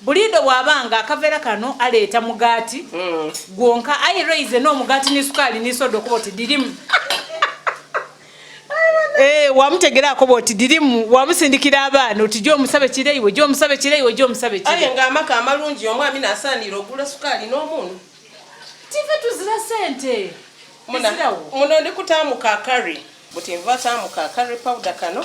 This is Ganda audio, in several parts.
Bulido bwabanga akavera kano aleeta mugati mm. gwonka I raise no mugati ni sukali ni sodo kubo ti dirimu Eh wamutegera akobo ti dirimu wamusindikira abana oti jo musabe kire iwe jo musabe kire iwe jo musabe kire Aye nga amaka amalungi omwa mina asanira ogula sukali no munu Tive tuzira sente Muna muno ndikutamu ka curry buti nva tamu ka curry powder kano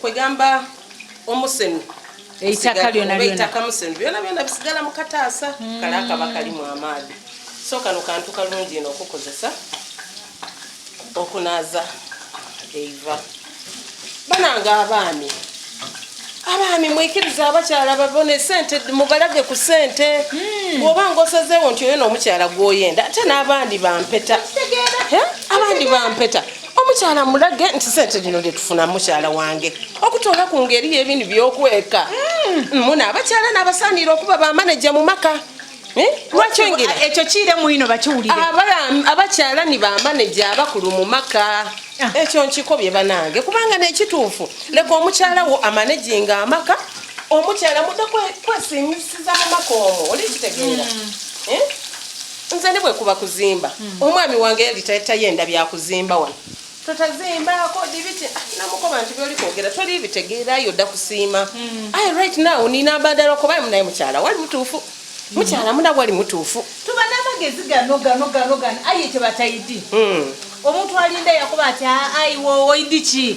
kwegamba omusenu eitaka lyona lyona eitaka musenu byona byona bisigala mu kataasa hmm. kale akaba kalimu amaadi so kano kantu kalungi ino okukozesa okunaaza eiva bananga abaami abaami mwikiriza abakyala babone sente mubalage ku sente hmm. bwoba nga osazeewo nti oyo noomukyala gwoyenda ate n'abandi bampeta abandi bampeta omukyala mulage nti sente zino gyetufuna mukyala wange okutoola ku ngeri yebintu byokweka mm. muna abakyala nabasaaniira okuba bamaneja mu maka eh? lwakyongera ekyo kiire muino bakiwulire abakyala ni bamaneja abakulu mu maka ah. ekyo nkikobye banange kubanga nekituufu leka omukyala wo amanejinga amaka omukyala muda kwesinyisiza mu maka omwo olikitegeera mm. eh? nze ne bwekuba kuzimba hmm. omwami wange yali tayenda byakuzimba wano totazimbako dibiti ah, namukoba nti byoli kwogera toli bitegeera yo dda kusiima hmm. aye right now nina abadala okubaye munaye mukyala wali mutuufu hmm. mukyala muna wali mutuufu tuba n'amagezi gano gano gano gano aye tebatayidi omuntu alinda yakuba ati aiwo ah, oidiki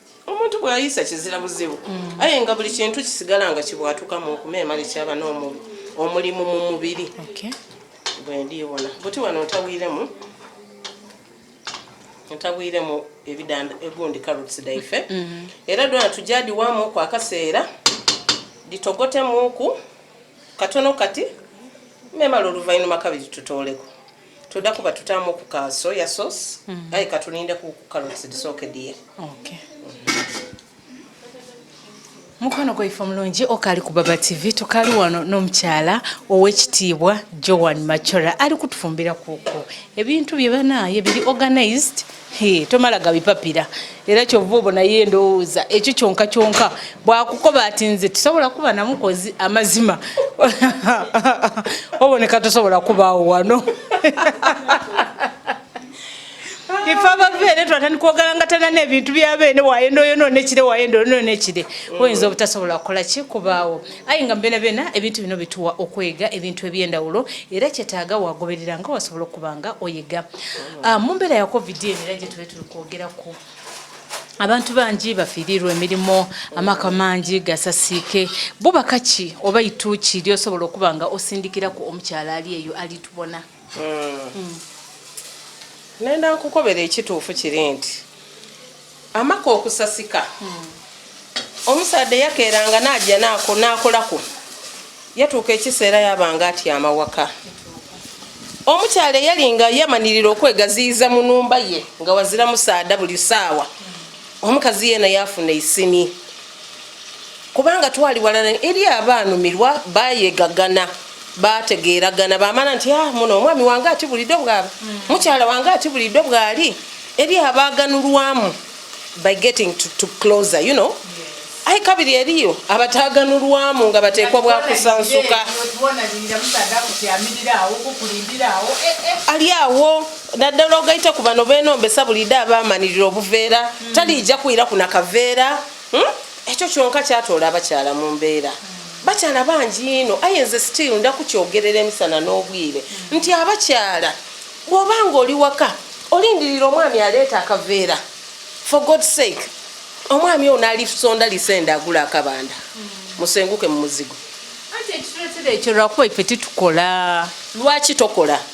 omuntu bwayisa kizira buzibu mm. aye nga buli kintu kisigala nga kibwatuka mu nkume emale kyaba n'omubi omulimu mu mubiri bwendiwona buti wano ntabwiremu ntabwiremu ebidanda egundi carrots daife mm-hmm. era dona tujadiwamu ku akaseera ditogotemuku katono kati memala oluvannyuma kabiri tutooleko Toda kuba tutamu ku ka soya sauce. Mm. Aye katuninde ku carrots disoke die. Okay. Mukwano gwa ifa mulungi okali ku Baba TV tukali wano n'omukyala ow'ekitiibwa Joan Machora ali kutufumbira kuku ebintu bye banaye biri organized Hey, tomala gabipapira era kyova obo naye ndowooza ekyo kyonka kyonka bwakukoba ati nze tusobola kuba namukozi amazima oboneka tosobola kubaawo wano ife abaveere twatandika ogalangatana n'ebintu byabeene wayenda oyo nonekire wayenda oyo nonekire oyinza obutasobola kukola ki kubaawo aye nga mbeena beena ebintu bino bituwa okwega ebintu ebyendawulo era kyetaaga wagoberera nga wasobola okuba nga oyiga Ah, mu mbeera ya covid eno era gye tube tuli kwogerako abantu bangi bafiirirwa emirimu amaka mangi gasasiike bubaka ki oba ituuki lyosobola okuba nga osindikiraku omukyala ali eyo alitubona hmm. Hmm. nenda nkukobera ekituufu kiri nti Amaka okusasika omusaadha eyakeeranga n'aja n'akolako yatuuka ekiseera yabanga atyama waka omukyala eyali nga yamanirira okwegaziyiza mu numba ye nga wazira musaadha buli saawa omukazi yeena yafuna isini kubanga twali walana eri abaanumirwa bayegagana bategeeragana bamala nti ah, muno omwami wange ati bulido bwaba mm. mukyala wange ati bulido bwali eri abaaganulwamu by getting to, to closer you know ai kabiri eriyo abataganulwamu nga bateekwa bwakusansuka ali awo naddala ogaita ku bano benombesa bulide abamanirira obuveera hmm. taliija kuyira ku nakaveera hmm? ekyo kyonka kyatoola abakyala mu mbeera hmm. bakyala bangi ino aye nze still nda kukyogerera emisana n'obwire nti abakyala bwoba nga oli waka olindirira omwami aleeta akaveera for god sake omwami ono alisonda lisende agula akabanda musenguke mu muzigo ekyo lwakuba ife titukola lwaki tokola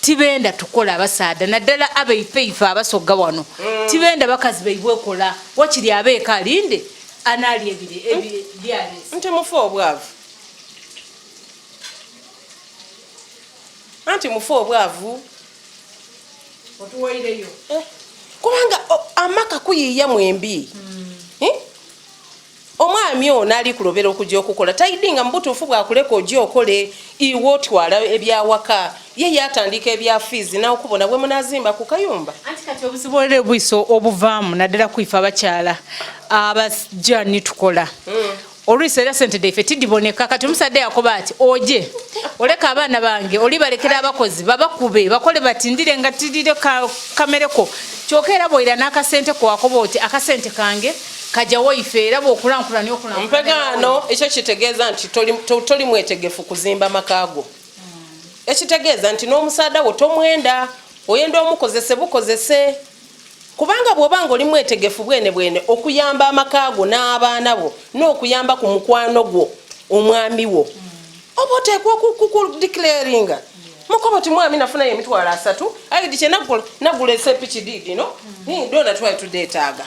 tibenda tukola abasaadha naddala abaife ife abasogga wano mm. tibenda bakazi baibwe kola wakiri abeeka alinde anaali ebire ebyalesi nti mufu obwavu anti mufu obwavu otuwaireyo eh, kubanga amaka kuyiiya mwembi mm. eh? omwami ono ali kulobera okujja okukola taidinga mubutuufu bwakuleka oja okole iwe otwala ebyawaka ye yatandika ebya fiizi nakubona bwe munazimba ku kayumba anti kati obuzibu era obwiso obuvaamu naddala kwife abakyala abasja nitukola hmm. olwisi era sente daife tidiboneka kati omusadde yakuba ati oje oleka abaana bange oli balekera abakozi babakube bakole batindire nga tidire kamereko kyoka era bwoira n'akasente kwakuba oti akasente kange kaja waife era bwokulankulanya okulankulanya mpegaano ekyo kitegeeza nti toli mwetegefu kuzimba makaago ekitegeeza nti n'omusaada wo tomwenda oyenda omukozese bukozese kubanga bwoba nga oli mwetegefu bwene bwene okuyamba amaka go n'abaana bo n'okuyamba ku mukwano gwo omwami wo oba oteekwa okukudiclaringa mukobo ti mwami nafunayo emitwalo asatu aidi kye nagula esepiki diidino dona twali tudeetaaga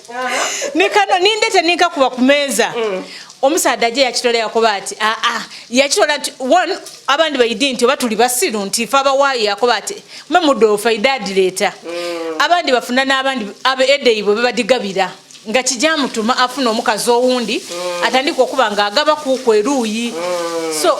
nikano nindete ninkakuba ku meeza mm. omusaadde aje yakitola yakoba ati aa ah, ah. yakitola nti one abandi baidi nti oba tuli basiru nti fe abawaayo yakoba ati mwe mudoofa idaadi leeta mm. abandi bafuna n'abandi abe edeibwe bebadigabira nga kijamutuma afuna omukazi owundi mm. atandika okuba nga agaba kuuku eruuyi so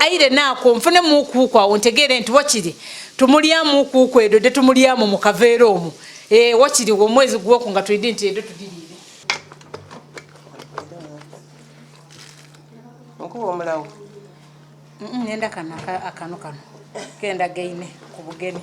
aire naako nfune muukuuku awo ntegeere nti wakiri tumulyamu ukuuku edo de tumulyamu mu kaveera omu e, eh, wakiri omwezi gwoku nga tulidi nti edo tudiriire nkuba omulawo nenda kano akano kano kenda gaine ku bugeni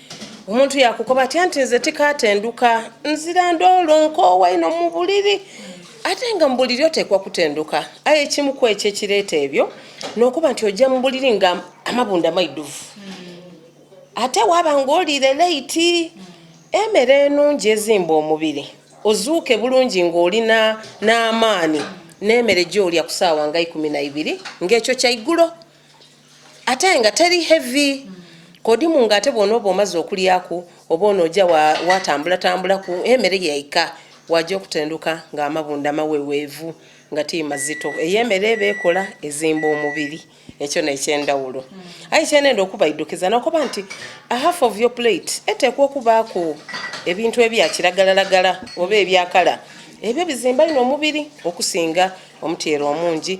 omuntu yakukoba atya nti nze tikatenduka nzira ndoolo nkoowa ino mu buliri ate nga mu buliri oteekwa kutenduka aye ekimu ku ekyo ekireeta ebyo n'okuba nti ojja mu buliri nga amabunda maiduvu ate waba ng'oliire leiti emere enungi ezimba omubiri ozuuke bulungi ng'olina n'amaani n'emere gy'olya ku saawa nga ikumi na ibiri ng'ekyo kyaigulo ate nga teri heavy kodimu nga ate bwona oba omaze okulyaku oba ono oja watambula tambula ku emere yaika waja okutenduka nga amabunda mawewevu nga ti mazito eyemere bekola ezimba omubiri ekyo nekyendawulo mm. ayi kyenenda okubaidukiza nokuba nti a half of your plate etekwa okubaku ebintu ebyakiragalalagala oba ebyakala ebyo bizimba ino omubiri okusinga omutyero omungi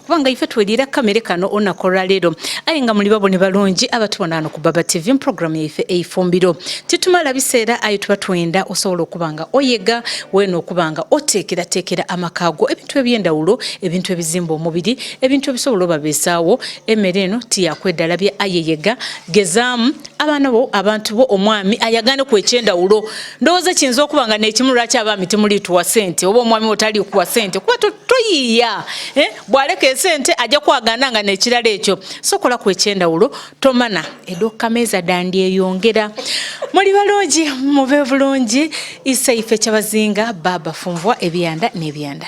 kubanga ife twelira kamere kano onakola lero aye nga muli babone balungi abatubona ano ku baba tv mpuroguramu yaife eifumbiro titumala biseera aye tuba twenda osobola okuba nga oyega wena okuba nga oteekerateekera amakago ebintu ebyendawulo ebintu ebizimba omubiri ebintu ebisobola obabeesaawo emere eno tiyakwedalabye ayeyega gezaamu abaana bo abantu bo omwami ayagane ku ekyendawulo ndowooza kiyinza okuba nga nekimu lwaki abaami temuliituwa sente oba omwami wo taliikuwa sente kuba toyiiya eh? bwaleka esente ajja kwagana nga nekirala ekyo sokola ku ekyendawulo tomana edokkameeza dandi eyongera muli balungi mube bulungi isa ife kyabazinga baba funvwa ebyanda n'ebyanda